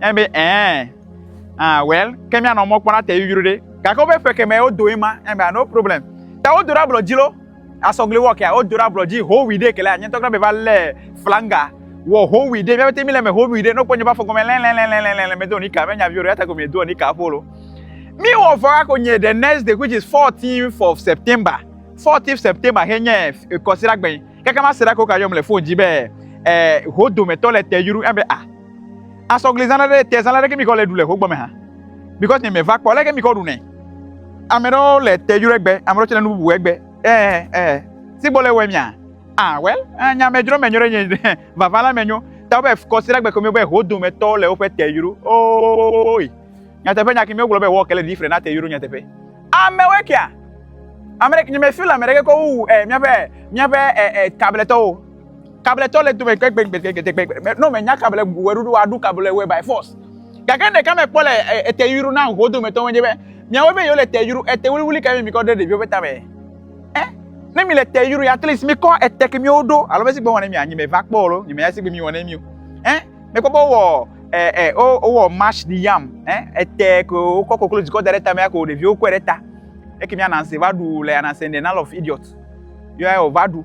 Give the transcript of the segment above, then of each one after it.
Eya be ɛɛ. Ah, well, ke míanɔ mɔ kpɔm ate yuyru ɖe. Gake woƒe ƒe kemɛ wodo ye ma. Eya be no problem. Ta wodo ɖe ablɔ dzi lo. Asɔgli wɔ kea, wodo ɖe ablɔ dzi howi ɖe ke la. Nye ŋutɔ kura be va lé flanga wɔ howi ɖe. Mía pɛtɛ míle eme howi ɖe. Ne wokpɔ nye ƒe afɔ gɔme lɛlɛlɛlɛlɛlɛ medo nika. Menye nyaviwo ɖe eya ta ko miedoa nika aƒo lo. Míwɔ vɔ hako nye the next day which is 14th of September. 14th September xe nye kɔsiɖagbe. Kaka mase ɖa ko ka yɔm le fon dzi be eh, ho dometɔ le te yru. Eya be ah. Asɔgli zãna ɖe te zãna ɖe ke mi kɔ le ɖu le hogbɔ me hã. Because nye me va kpɔ le ke mi kɔ ɖu ne. Ame ɖewo le te yɔrɔ egbe, ame ɖewo tse le nu bubu egbe. Eh eh. Si gbɔ le wɔ mia. Ah well, eh, nya me dzro me nyo ɖe nye vava la me nyo. Ta be kɔsi la gbe ko mi be ho dome tɔ le woƒe te yɔrɔ. Oh, oi. Nya teƒe nya ke mi wogblɔ be wɔ ke le di fre na te yɔrɔ nya teƒe. Ame we kia. Ame ɖe nye me feel ame ɖe ke kɔ wu eh mia be mia be eh eh tabletɔ wo. Kabletɔ le dome gbegbegbegbegbegbe. Ne menya kable bu wɔ ɖoɖo aɖu kable wɔ by force. Gake ɖeka me kpɔ le ete yuru na ho dometɔ wonye be miawo be yewo le te yuru ete wuliwuli ka mi mi kɔ ɖe ɖeviwo be tame. Eh, ne mi le te yuru at least mi kɔ ete ke miwo ɖo alo be si gbe wɔne mi anyi me va kpɔ alo nyime ya si gbe mi wɔne mi o. Eh, me kpɔ be wɔ eh eh o o wɔ mash di yam eh ete ke o kɔ koklo dikɔ da ɖe tame ko ɖeviwo kɔe ɖe ta. Eke mi ananse va ɖu le ananse in the nal of idiot. Yo ya o va ɖu.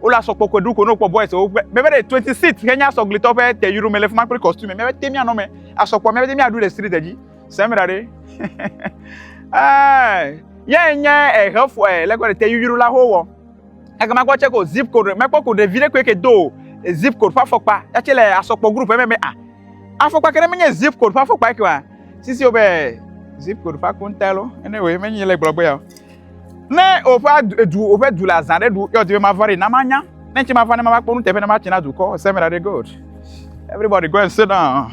Wole asɔ kpɔ kwe ɖu ko no kpɔ boys wo ƒe mebe ɖe twenty six ke nye asɔ glitɔ ƒe te yuro me le fuma kple costume mebe te mia nɔ me asɔ kpɔ mebe te mia ɖu le street dzi sɛm ra ɖe ɛɛ yɛ nye ehe fɔ ɛ lɛ kɔ te yuro la ho wɔ eke ma kɔ tse ko zip code mɛ kpɔ ko ɖevi ɖe koe ke do zip code ƒe afɔkpa ya tse le asɔ kpɔ group mɛ mɛ a afɔkpa ke ɖe menye zip code ƒe afɔkpa ke wa sisi wo be zip code ƒe akonta lo ene wo menye le gblɔ be ya o. Ne woƒe edu woƒe du le azã ɖe ɖu, yɔ di be mava ɖi na manya. Ne nti mava ne mava kpɔ nuteƒe ne matsi na dukɔ. Seven are good. Everybody go and sit down.